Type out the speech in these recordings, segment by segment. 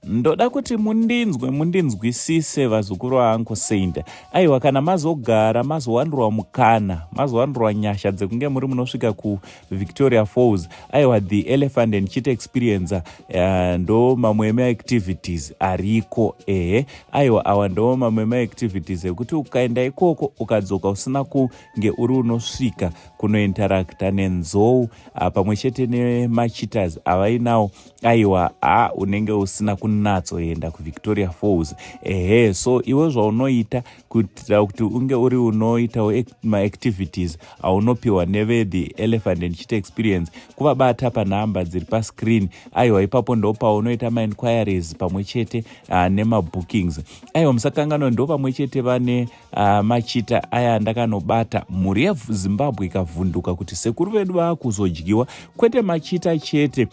Ndoda kuti mundinzwe mundinzwisise vazukuru vaanko Saint. Aiwa kana mazogara mazowanirwa mukana, mazowanirwa nyasha dzekunge muri munosvika ku Victoria Falls. Aiwa the elephant and cheat experience uh, ndo mamwe ema activities ariko. Ehe, aiwa awa ndo mamwe ema activities ekuti ukaenda ikoko ukadzoka usina kunge uri unosvika kunointeracta nenzou uh, pamwe chete nemacheaters avainawo aiwa ha unenge usina kunatsoenda kuvictoria falls ehe so iwe zvaunoita kuitira kuti unge uri unoitawo maactivities aunopiwa nevethe elephant and chita experience kuvabata panhamba dziri pascreen aiwa ipapo ndo paunoita mainquiries pamwe chete uh, nemabookings aiwa musakanganwa ndo pamwe chete vane uh, machita aya ndakanobata mhuri yezimbabwe ikavhunduka kuti sekuru vedu vaakuzodyiwa kwete machita chete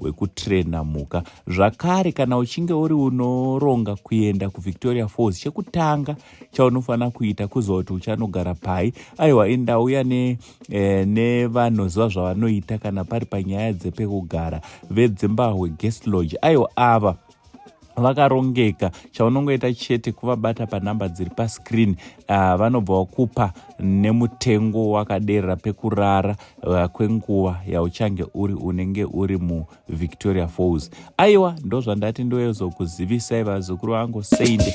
wekutrena mhuka zvakare kana uchinge uri unoronga kuenda kuvictoria falls chekutanga chaunofanira kuita kuziva kuti uchanogara pai aiwa indauya ne, eh, nevanoziva zvavanoita kana pari panyaya dzepekugara vedzimbahwe guest lodge aiwa ava vakarongeka chaunongoita chete kuvabata panhamba dziri pascreen uh, vanobva wakupa nemutengo wakaderera pekurara uh, kwenguva yauchange uri unenge uri muvictoria falls aiwa ndozvandati ndoezokuzivisai vazukuru vangu seinde